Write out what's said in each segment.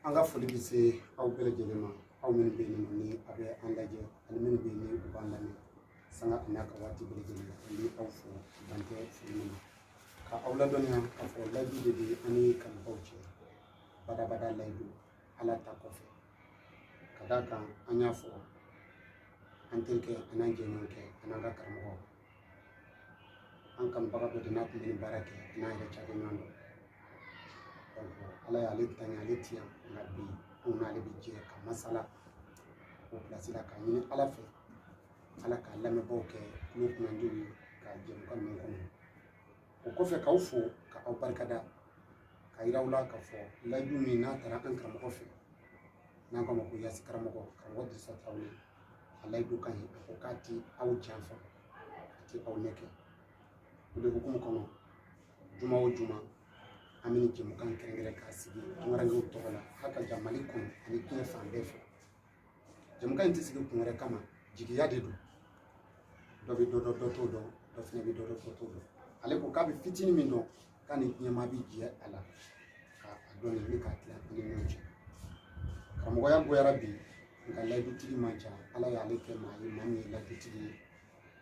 an ka foli bɛ se aw bɛɛ lajɛlen ma aw minnu bɛ yen ni a bɛ an lajɛ ani minnu bɛ yen ni u b'an lamɛn sanga ani a ka waati bɛɛ lajɛlen na an bɛ aw fo dan tɛ foli min na ka aw ladɔnniya k'a fɔ layidu de bɛ an ni kanubagaw cɛ badabada layidu ala ta kɔfɛ ka d'a kan an y'a fɔ an terikɛ an'an jɛɲɔgɔnkɛ an'an ka karamɔgɔ an kanubaga dɔ de n'a kun bɛ nin baara kɛ n'an yɛrɛ cakɛɲɔgɔn don ala y'ale tanya ale ti yan nka bi anw n'ale bɛ jɛ ka masala o pilasi la k'a ɲini ala fɛ ala ka lamɛnbaaw kɛ tulo kunnandiw ye ka jɛmukan ninnu kɔnɔ o kɔfɛ k'aw fo ka aw barikada k'a yir'aw la k'a fɔ layidu min n'a tara an karamɔgɔ fɛ n'an k'a ma ko yasi karamɔgɔ karamɔgɔ dirisa tarawele a layidu ka ɲi a ko k'a ti aw janfa a ti aw nɛgɛn o de hukumu kɔnɔ juma o juma an bɛ nin jɛmukan kɛrɛnkɛrɛn k'a sigi tungarankew tɔgɔ la h'a ka ja mali kɔnɔ ani diɲɛ fan bɛɛ fɛ jɛmukan in tɛ sigi kun wɛrɛ kama jigiya de don dɔ bɛ dɔ dɔn dɔ t'o dɔn dɔ fana bɛ dɔ dɔn dɔ t'o dɔn ale ko k'a bɛ fitinin min dɔn k'a ni jama bi jɛ a la ka a dɔn ye min ka tila an ni ɲɔgɔn cɛ karamɔgɔya nɔgɔyara bi nka layidutigi man ca ala y'ale kɛ maa ye maa min ye layidutigi ye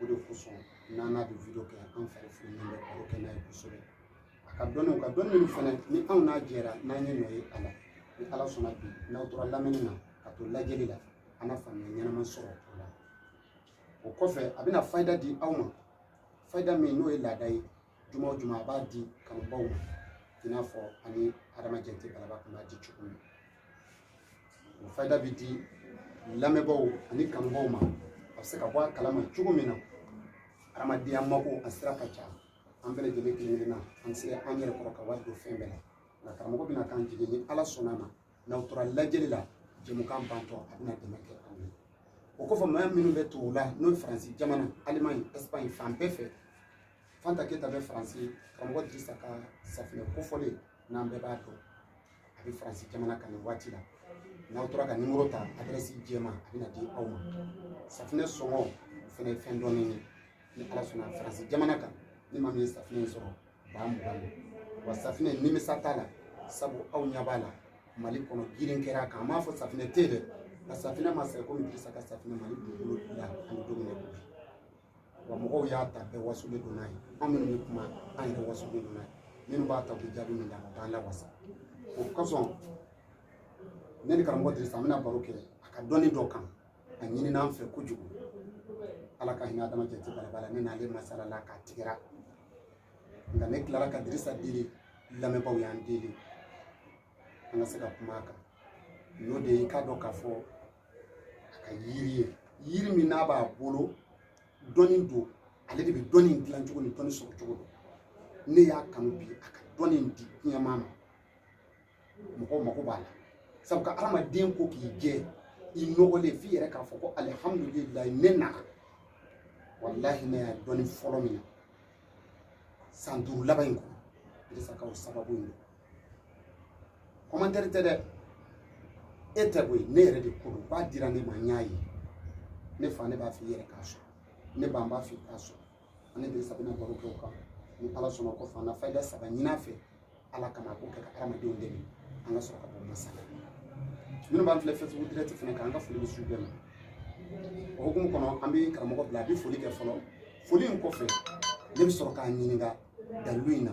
o de kosɔn n'an n'a bɛ video kɛ an fari fonilen bɛ baro kɛ n'a ye kosɛbɛ a ka dɔnniw ka dɔnni minnu fana ni anw n'a jɛra n'an ye nɔ ye a la ni ala sɔnna bi n'aw tora lamɛnni na ka to lajɛli la an na faamuya ɲɛnama sɔrɔ o la o kɔfɛ a bɛna fayida di aw ma fayida min n'o ye laada ye juma o juma a b'a di kanubaaw ma i n'a fɔ ani adama jɛnti balaba kun b'a di cogo min o fayida bɛ di lamɛnbaaw ani kanubaaw ma a bɛ se ka bɔ a kalama cogo min na adamadenya mako a sira ka ca an bɛɛ lajɛlen kelen kelen na an tɛ se an yɛrɛ kɔrɔ ka wari don fɛn bɛɛ la nka karamɔgɔ bɛna k'an jigin ni ala sɔnna a ma n'aw tora lajɛli la jɛmukan bantɔ a bɛna dɛmɛ kɛ aw ye o kɔfɛ maa minnu bɛ tubabu la n'o ye faransi jamana alimaɲi ɛsipaɲi fan bɛɛ fɛ fanta keyita bɛ faransi karamɔgɔ dirisa ka safinɛ kofɔlen n'an bɛɛ b'a dɔn a bɛ faransi jamana kan nin waati la n'aw tora ka nimoro ta adrɛsi jɛma a bɛna di aw ma safinɛ sɔngɔ o fana ye fɛn dɔɔni ye ni ala sɔnna faransi jamana kan ni maa min ye safinɛ in sɔrɔ baa mugan don wa safinɛ nimisa t'a la sabu aw ɲɛ b'a la mali kɔnɔ girin kɛra a kan an m'a fɔ safinɛ tɛ yen dɛ nka safinɛ ma sɛgɛn komi dirisa ka safinɛ mali dugukolo la ani don min na wa mɔgɔw y'a ta bɛɛ wasalen don n'a ye an minnu bɛ kuma an yɛrɛ wasalen don n'a ye minnu b'a ta u bɛ jaabi min d'an ma u b'an lawasa o kosɔn ne ni karamɔgɔ dirisa an bɛna baro kɛ a ka dɔnni dɔ kan a ɲinina an fɛ kojugu ala ka hinɛ adama jate balaba la ne n'ale masalala k'a tigɛra nka ne tilara ka dirisa deli lamɛnbaaw y'an deli an ka se ka kuma a kan n'o de ye i k'a dɔn k'a fɔ a ka yiri ye yiri min n'a b'a bolo dɔnni don ale de bɛ dɔnni in dilan cogo ni dɔnni sɔrɔ cogo don ne y'a kanu bi a ka dɔnni in di diɲɛmaa ma mɔgɔw mako b'a la sabu ka hadamaden ko k'i jɛ i nɔgɔlen f'i yɛrɛ k'a fɔ ko alihamudulilayi ne nana walahi ne y'a dɔnni fɔlɔ min na san duuru laban in kɔnɔ dirisa ka o sababu in don kɔmantɛri tɛ dɛ e tɛ koyi ne yɛrɛ de ko don b'a dira ne ma n y'a ye ne fa ne b'a f'i yɛrɛ k'a sɔrɔ ne ba n b'a f'i k'a sɔrɔ an ni dirisa bɛna baro kɛ o kan ni ala sɔnna k'o fana fayida saba ɲin'a fɛ ala kama k'o kɛ ka hadamadenw dɛmɛ an ka sɔrɔ ka bɔ masala minnu b'an filɛ fɛsibuku dirɛti fana kan an ka foli bɛ s'u bɛɛ ma o hukumu kɔnɔ an bɛ karamɔgɔ bila a bɛ foli kɛ fɔlɔ foli in kɔfɛ ne bɛ sɔrɔ k'a ɲininka dalilu in na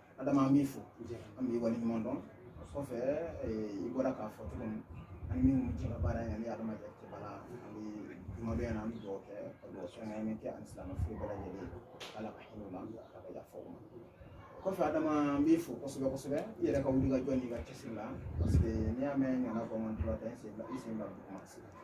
adama an b'i fo an b'i waleɲuman dɔn o kɔfɛ i bɔra k'a fɔ cogo min an ni minnu bɛ jɛ ka baara in ani adama jɛ cɛ bala an bɛ jumadon in na an bɛ dugawu kɛ ka dugawu sɔngɔn min kɛ ani silamɛ fure bɛɛ lajɛlen ala ka hinɛ u la ala ka yafa u ma kɔfɛ adama an b'i fo kosɛbɛ kosɛbɛ i yɛrɛ ka wulikajɔ n'i ka cɛsiri la parce que n'i y'a mɛn ɲana bɔ man tora tɛ i sen bila i sen bila duguma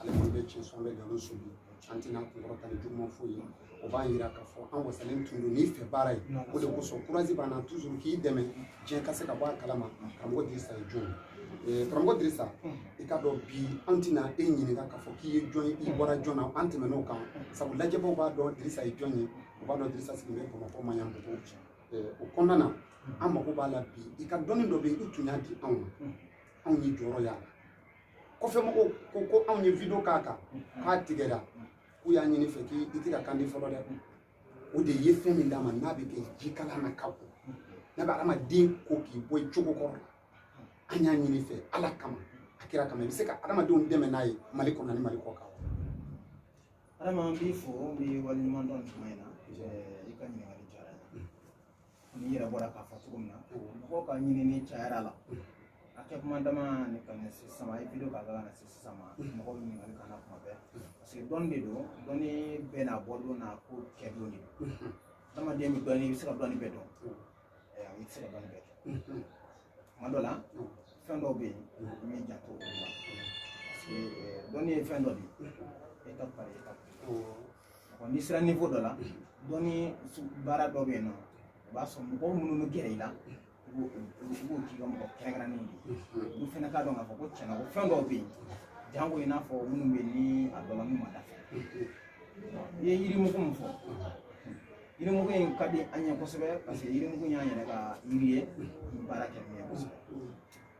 ale fana bɛ tiɲɛ sɔn bɛ nkalon sɔn an tɛna kunkɔrɔta ni juguman foyi ye o b'a yira k'a fɔ an wasalen tun don n'i fɛ baara ye o de kosɔn kurazi b'an na tuzuru k'i dɛmɛ diɲɛ ka se ka bɔ a kalama karamɔgɔ dirisa ye jɔn ye karamɔgɔ dirisa i k'a dɔn bi an tɛna e ɲininka k'a fɔ k'i ye jɔn ye i bɔra jɔn na an tɛmɛn'o kan sabu lajɛbaw b'a dɔn dirisa ye jɔn ye u b'a dɔn dirisa sigilen bɛ bamakɔ maɲanbugu o kɔnɔna na an mago b'a la bi i ka dɔnni dɔ bɛ yen i tun y'a di anw ma anw ye jɔyɔrɔ y'a la kɔfɛ mɔgɔw ko ko anw ye video k'a kan k'a tigɛra k'u y'a ɲin'i fɛ k'i tɛ ka kandi fɔlɔ dɛ o de ye fɛn min d'a ma n'a bɛ kɛ jikalan na ka ko n'a bɛ adamaden ko k'i bɔ i cogo kɔrɔ la an y'a ɲin'i fɛ ala kama a kira kama i bɛ se ka adamadenw dɛmɛ n'a ye mali kɔnɔ ni mali kɔkan adama an b'i fo n b'i waleɲuman dɔn tuma in na i ka ɲininkali diyara n ye n'i yɛrɛ bɔra k'a fɔ cogo min na mɔgɔw ka ɲinini cayar'a la a kɛ tuma daminɛ ka na se sisan ma i video kɛ ka na se sisan ma mɔgɔw bɛ ɲininkali k'an na tuma bɛɛ parce que dɔnni de don dɔnni bɛɛ n'a bɔdon n'a ko kɛ don de don adamaden bɛ dɔnni i bɛ se ka dɔnni bɛɛ dɔn i tɛ se ka dɔnni bɛɛ kɛ tuma dɔ la fɛn dɔw bɛ yen i b'i janto olu la parce que dɔnni ye fɛn dɔ de ye étape par étape n'i sera niveau dɔ la dɔnni baara dɔ bɛ yen nɔ o b'a sɔrɔ mɔgɔw minnu bɛ gɛrɛ i la i b'o k'i ka mɔgɔ kɛrɛnkɛrɛnnen de ye olu fana k'a dɔn k'a fɔ ko tiɲɛ na ko fɛn dɔw bɛ yen janko i n'a fɔ minnu bɛ ni a dɔ la n'u ma dafa i ye yirimugu min fɔ yirimugu in ka di an ye kosɛbɛ parce que yirimugu y'an yɛrɛ ka yiri ye baara kɛ min ye kosɛbɛ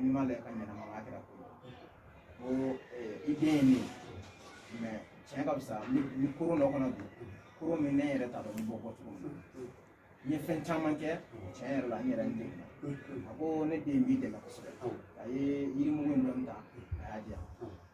n'i m'a lajɛ ka ɲɛnamaya kɛra ko ko i den ye ne ye mais tiɲɛ ka fisa ni koro dɔ kɔnɔ bi koro min ne yɛrɛ t'a dɔn n bɛ bɔ cogo min n ye fɛn caman kɛ tiɲɛ yɛrɛ la n yɛrɛ n degunna a ko ne den b'i dɛmɛ kosɛbɛ a ye yirimugu in dɔɔni ta a y'a di yan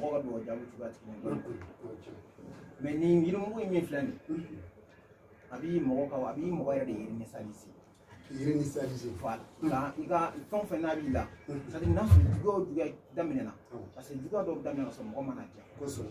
mɔgɔ ka dugawu jaabi cogoya tigi mais nin yirimugu in min filɛ nin a b'i mɔgɔ ka a b'i mɔgɔ yɛrɛ de réinitialiser réinitialiser voilà nka i ka fɛn o fɛn n'a b'i la n'a sɔrɔ juguya o juguya daminɛna parce que juguya dɔw daminɛna ka sɔrɔ mɔgɔ mana ja kosɛbɛ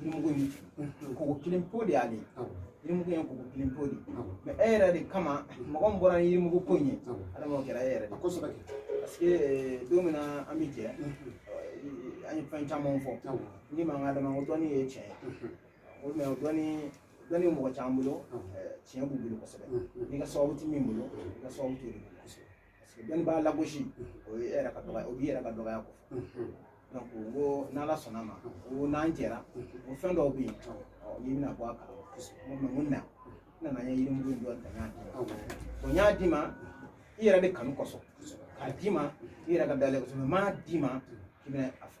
yirimugu in koko kelen po de y'ale yirimugu in koko kelen po de mais e yɛrɛ de kama mɔgɔ min bɔra ni yirimugu ko in ye adama o kɛra e yɛrɛ de kosɛbɛ parce que eh, don min na an bɛ jɛ an ye fɛn caman fɔ ni ma n ko adama ko dɔnni ye tiɲɛ ye o mais dɔnni dɔnni mɔgɔ caman bolo eh, tiɲɛ b'u bolo kosɛbɛ n'i ka sababu tɛ min bolo i ka sababu t'o de bolo parce que dɔnni b'a lagosi o ye e yɛrɛ ka dɔgɔya o b'i yɛrɛ ka dɔgɔya kofɔ donc n ko n'ala sɔnn'a ma ko n'an jɛra ko fɛn dɔw bɛ yen n'i bɛna bɔ a kala ma n ko mun na n nana n ye yirimugu in dɔ ta n y'a d'i ma bon n y'a d'i ma i yɛrɛ de kanu kosɔn k'a d'i ma i yɛrɛ ka da la kosɛbɛ n m'a d'i ma k'i bɛna a fɔ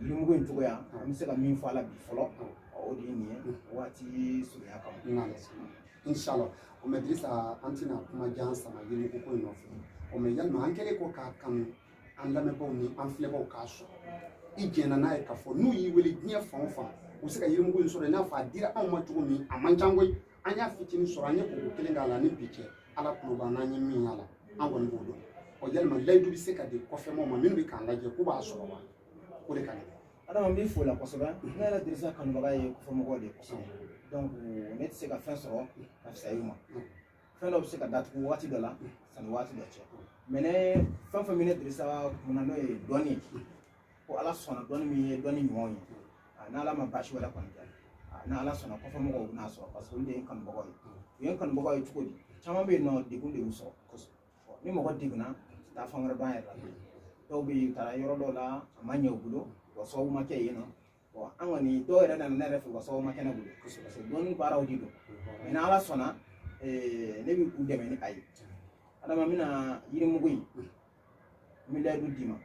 yirimugu in cogoya an bɛ se ka min fɔ a la bi fɔlɔ o de ye nin ye waati surunya kama inshallah o mais dirisa an tɛna kuma jan sama yirimugu ko in nɔfɛ o mais yalima an kɛlen kɔ k'a kanu an lamɛnbaaw ni an filɛbaaw k'a sɔrɔ i jɛnna n'a ye k'a fɔ n'u y'i wele diɲɛ fan o fan u bɛ se ka yirimugu in sɔrɔ i n'a fɔ a dira anw ma cogo min a man ca koyi an y'a fitinin sɔrɔ an ye koko kelen k'a la ni bi cɛ ala tulo b'an n'an ye min y'a la an kɔni b'o dɔn ɔ yalima layidu bɛ se ka di kɔfɛmɔgɔw ma minnu bɛ k'an lajɛ k'u b'a sɔrɔ wa o de ka gɛlɛn adama n b'i fo la kosɛbɛ ne yɛrɛ dirisa kanubaga ye kɔfɛmɔgɔw de ye kosɛbɛ donc ne tɛ se ka fɛn sɔrɔ ka fisaya i ma fɛn dɔ bɛ se ka datugu waati dɔ la sani waati dɔ cɛ mais ne fɛn o fɛn bɛ ne dirisa kunna n'o ye dɔnni ye ko ala sɔnna dɔnni min ye dɔnni ɲumanw ye ah, ni ala ma baasi wɛrɛ kɔni kɛ ah, ni ala sɔnna kɔfɛmɔgɔw bɛn'a sɔrɔ parce que olu de ye n kanubagaw ye u ye n kanubagaw ye cogo di caman bɛ yen nɔ degun de y'u sɔrɔ ni mɔgɔ degunna u tɛ taa fan wɛrɛ dɔn a yɛrɛ la dɔw bɛ yen u taara yɔrɔ dɔw la a ma ɲɛ u bolo wa sababu ma kɛ yen nɔ bon an kɔni dɔw yɛrɛ nana ne yɛrɛ fɛ u ka sababu ma kɛ ne bolo kosɛbɛ parce que dɔnni baaraw de don mais ni ala sɔnna eh, ne bɛ u dɛmɛ ni a ye adama n bɛna yirimugu in n bɛ layidu d'i ma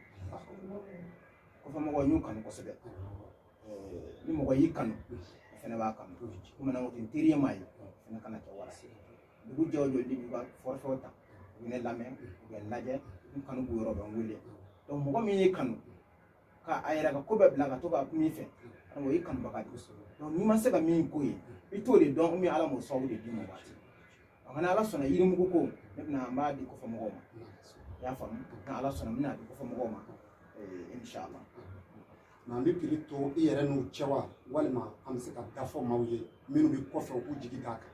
kɔfɛ mɔgɔw n y'u kanu kosɛbɛ eh, ni mɔgɔ y'i kanu o fana b'a kanu komi n'an ko ten teri ye maa ye o fana kana kɛ wara ye dugu jɛ o jɛ olu b'u ka forfait ta u bɛ ne lamɛn u bɛ n lajɛ n kanu b'u yɔrɔ bɛ n wele donc mɔgɔ min y'i kanu ka a yɛrɛ ka ko bɛɛ bila ka to ka min fɛ o y'i kanubaga de ye n'i ma se ka min k'o ye i t'o de dɔn min ala m'o sababu de d'i ma waati donc ni ala sɔnna yirimugu ko ne bɛna n b'a di kɔfɛ mɔgɔw ma i y'a faamu ni ala sɔnna n bɛna di kɔfɛ mɔgɔw ma inshallah nka an bɛ prix to i yɛrɛ n'u cɛ wa walima an bɛ se k'a da fɔ maaw ye minnu bɛ kɔfɛ u k'u jigi d'a kan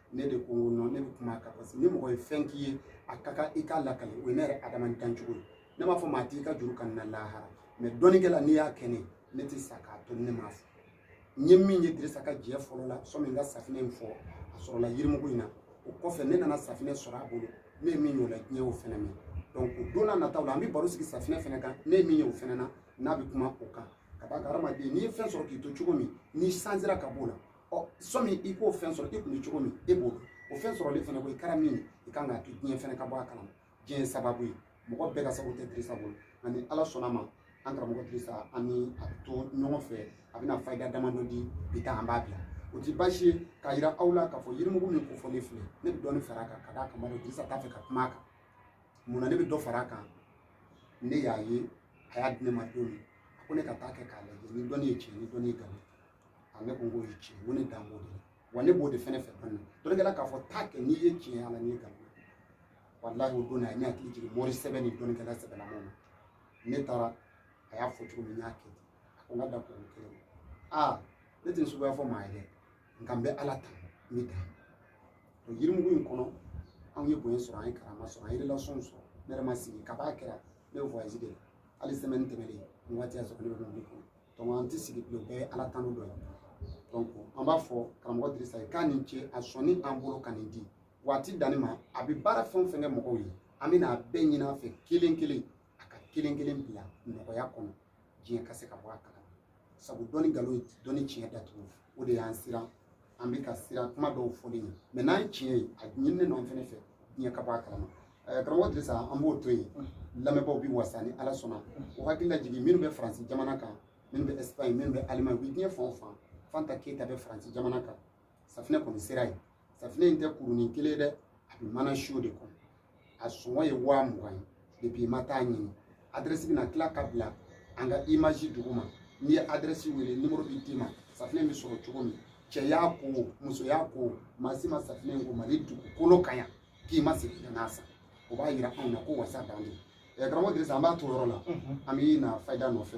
ne de ko nɔ ne bɛ kuma a kan parce que ni mɔgɔ ye fɛn k'i ye a ka kan i k'a lakale o ye ne yɛrɛ adama dancogo ye ne b'a fɔ maa t'i ka juru kani lahara mais dɔnnikɛla n'i y'a kɛ ne ne tɛ sa k'a to ne m'a fɔ n ye min ye dirisa ka jɛ fɔlɔ la sɔmi n ka safinɛ in fɔ a sɔrɔla yirimugu in na o kɔfɛ ne nana safinɛ sɔrɔ a bolo ne ye min y'o la diɲɛ y'o fɛnɛ mɛn donc o don n'a nataw la an bɛ baro sigi safinɛ fɛnɛ kan ne ye min ye o fɛnɛ na n'a bɛ kuma o kan ka d'a kan hadamaden n'i ye fɛn sɔrɔ k'i to cogo min n'i sansira ka b'o la ɔ sɔmi i k'o fɛn sɔrɔ i tun bɛ cogo min e b'o dɔn o fɛn sɔrɔlen fana kɔ i kɛra min ye i kan k'a to diɲɛ fana ka bɔ a kalama diɲɛ ye sababu ye mɔgɔ bɛɛ ka sababu tɛ dirisa bolo nka ni ala sɔnna ma an karamɔgɔ dirisa an ni a bɛ to ɲɔgɔn fɛ a bɛna fayida damadɔ di bi ta an b'a bila o tɛ baasi ye k'a yira aw la k'a fɔ yirimugu min kofɔlen filɛ ne bɛ dɔɔnin fara a kan ka d'a kan dirisa t'a fɛ ka kuma a kan mun na ne bɛ dɔ fara a kan ne y'a ye a y'a di ne ma don min a ko ne ka taa kɛ k'a lajɛ ni dɔnni ye tiɲɛ ni dɔnni ye nkalon a ne ko k'o ye tiɲɛ ko ne dan b'o de la wa ne b'o de fɛnɛ fɛ dɔnni dɔnnikɛla k'a fɔ taa kɛ n'i ye tiɲɛ ala n'i ye nkalon walahi o don na a ye ne hakili jigin mori sɛbɛ ni dɔnnikɛla sɛbɛlamaw ma ne taara a y'a fɔ cogo min n y'a kɛ ten a ko n ka da kɔrɔ kelen ma aa ne tɛ suguya fɔ maa ye dɛ nka n bɛ ala tanu n bɛ dan o yirimugu in kɔnɔ anw ye bonya sɔrɔ an ye karama sɔrɔ an ye relation sɔrɔ ne yɛrɛ ma sigi kabi a kɛra ne bɛ voyage de la hali semaine tɛmɛnen nin waati y'a sɔrɔ ne bɛ mobili kɔnɔ donc an tɛ sigi bilen o bɛɛ ye ala tanu dɔ ye donc an b'a fɔ karamɔgɔ dirisa ye k'a ni ce a sɔnni an bolo ka nin di waati danni ma a bɛ baara fɛn o fɛn kɛ mɔgɔw ye an bɛna a bɛɛ ɲini a fɛ kelen kelen a ka kelen kelen bila nɔgɔya kɔnɔ diɲɛ ka se ka bɔ a kalama sabu dɔnni nkalon ye dɔnni tiɲɛ datugu o de y'an siran an bɛ ka siran kuma dɔw fɔli ɲɛ mais n'an ye tiɲɛ ye a ɲininen don an fɛnɛ fɛ diɲɛ ka bɔ a kalama eh, karamɔgɔ dirisa an b'o to yen lamɛnbaaw bɛ wasa ni ala sɔnna o hakili lajigin minnu bɛ faransi jamana kan minnu bɛ espagne minnu bɛ allemagne u bɛ diɲɛ fan o fan fanta keyita bɛ faransi jamana kan safinɛ kɔni sera yen safinɛ in tɛ kurunin kelen ye dɛ a bɛ mana siyo de kɔnɔ a sɔngɔ ye waa mugan ye depuis i ma taa ɲini adrɛsi bɛna tila ka bila an ka image duguma n'i ye adrɛsi wele nimoro bɛ d'i ma safinɛ bɛ sɔrɔ cogo min cɛ y'a ko o muso y'a ko o maa si ma safinɛ in ko mali dugukolo kan yan k'i ma segin ka n'a san o b'a yira anw na ko wasa dan don karamɔgɔ dirisa an b'a to yɔrɔ la an bɛ na fayida nɔfɛ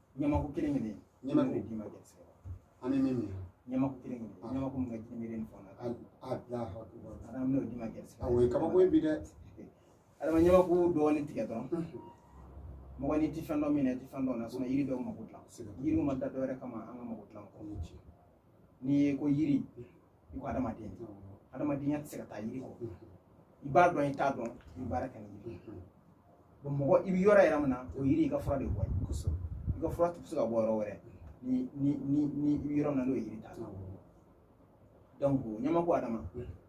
ɲamaku kelen kelen ɲamaku d'i ma gɛrɛsɛgɛ la an bɛ min minɛ ɲamaku kelen kelen ah. ɲamaku min ka jiri miiri ni fɛnw na a ah, bila ah, ala bɛna o d'i ma gɛrɛsɛgɛ o ye kabako ye bi dɛ adama ɲamaku dɔɔnin tigɛ dɔrɔn mɔgɔ n'i ti fɛn dɔn min na i ti fɛn dɔn a yiri dɔw mako dilan yiriw ma da dɔwɛrɛ kama an ka mako dilan kɔ n'i ye ko yiri i ko adamadenya adamadenya tɛ se ka taa yiri kɔ i b'a dɔn i t'a dɔn i bɛ baara kɛ ni yiri bon mɔgɔ i bɛ yɔrɔ yɛrɛ min na o yiri i ka fura de bɔ ye kosɛbɛ i ka fura tɛ se ka bɔ yɔrɔ wɛrɛ ni ni ni ni i bɛ yɔrɔ min na n'o ye yiri t'a la donc ɲamaku adama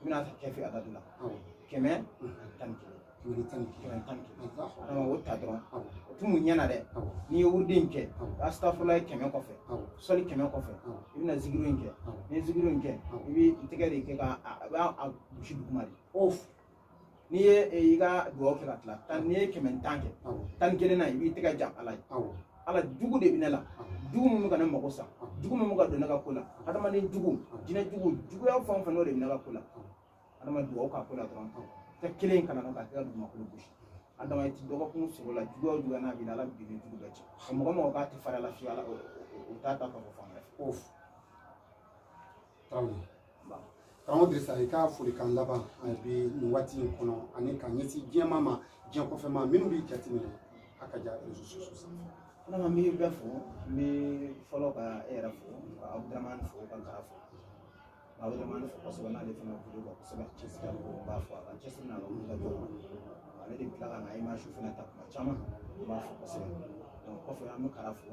i bɛna ta kafi adadu la kɛmɛ tan ni kelen o ta dɔrɔn o tun mun ɲɛna dɛ n'i ye wurudi in kɛ asitafurulayi kɛmɛ kɔfɛ sɔli kɛmɛ kɔfɛ i bɛna zikiri in kɛ n'i ye zikiri in kɛ i bɛ i tɛgɛ de kɛ ka a b'a a gosi duguma dɛ n'i ye i ka dugawu kɛ ka tila tan n'i ye kɛmɛ tan kɛ tan ni kelennan i b'i tɛgɛ jan ala ye ala jugu de bɛ ne la jugu min bɛ ka ne mago sa jugu min bɛ ka don ne ka ko la adamaden jugu jinɛ jugu juguya fɛn o fɛn n'o de bɛ ne ka ko la adama dugawu k'a ko la dɔrɔn tɛgɛ kelen in kana na k'a kɛ ka dugumakolo gosi adama i ti dɔgɔkun sɔrɔ la juguya o juguya n'a b'i la ala b'i jugu bɛɛ cɛ ka mɔgɔ mɔgɔ k'a tɛ fara la fiye ala o t'a ta ka bɔ fan wɛrɛ fɛ. karamɔgɔ dirisa i ka folikan laban bi nin waati in kɔnɔ ani ka ɲɛsin diɲɛ maa ma diɲɛ kɔfɛ maa minnu b'i jateminɛ a ka ja réseaux sociaux sanfɛ adama n bɛ bɛɛ fo n bɛ fɔlɔ ka e yɛrɛ fo ka abudramani fo ka gara fo abudramani fo kosɛbɛ n'ale fana bolo kan kosɛbɛ cɛsiri n b'a fo a ka cɛsiri n'a ka wuli ka jɔ ale de bɛ tila ka na image fana ta kuma caman n b'a fo kosɛbɛ kɔfɛ an bɛ gara fo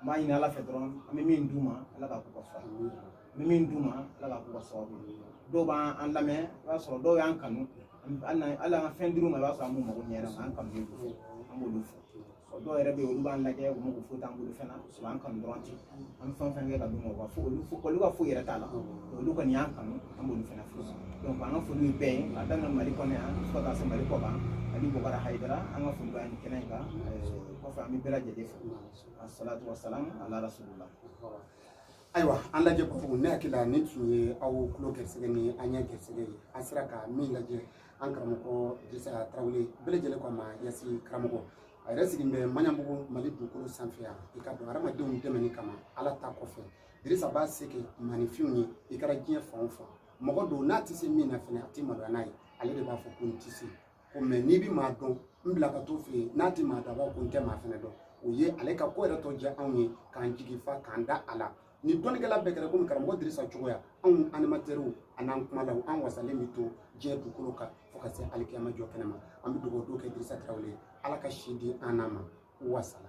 n b'a ɲini ala fɛ dɔrɔn an bɛ min d'u ma ala k'a k'u ka fura ye n bɛ min d'u ma ala k'a k'u ka sababu ye dɔw b'an lamɛn i b'a sɔrɔ dɔw y'an kanu hali an ka fɛn dir'u ma i b'a sɔrɔ an b'u mago ɲɛ an kanu de don an b'olu fo dɔw yɛrɛ bɛ yen olu b'an lajɛ u mago foyi t'an bolo fɛn na sɔrɔ an kanu dɔrɔn ten an bɛ fɛn fɛn kɛ ka d'u ma u ka fo olu fo olu ka foyi yɛrɛ t'a la olu kɔni y'an kanu an b'olu fana fo donc an ka foli ye bɛɛ ye k'a daminɛ mali kɔnɔ yan fo ka taa se mali kɔkan ani bɔgɔra hayidara an ka foli bɛ yan nin kɛnɛ in kan kɔfɛ an bɛ bɛɛ lajɛlen fo asalatu wasalamu ala rasulillah ayiwa an lajɛbagaw ne hakili la nin tun ye aw tulo gɛrisɛgɛ ni an ɲɛ gɛrisɛgɛ ye an sera ka min lajɛ an karamɔgɔ dirisa tarawele bɛɛ lajɛlen ko a ma yasi karamɔgɔ a yɛrɛ sigilen bɛ maɲanbugu mali dugukolo sanfɛ yan i k'a dɔn hadamadenw dɛmɛni kama ala ta kɔfɛ dirisa b'a se kɛ maaninfinw ye i kɛra diɲɛ fan o fan mɔgɔ don n'a tɛ se min na fɛnɛ a tɛ maloya n'a ye ale de b'a fɔ ko n tɛ se ko mɛ n'i bɛ maa dɔn n bila ka t'o fɛ yen n'a tɛ maa dɔn a b'a ko n tɛ maa fɛnɛ dɔn o ye ale ka ko yɛrɛ tɔ diya anw ye k'an jigi fa k'an da a la ni dɔnnikɛla bɛɛ kɛra komi karamɔgɔ dirisa cogoya anw animatɛriw an'an kumalaw an wasalen bɛ to diɲɛ dugukolo kan fo ka se alikiyama jɔ kɛnɛ ma an bɛ dugawu dɔ kɛ dirisa tarawele ye ala ka si di an n'a ma wasala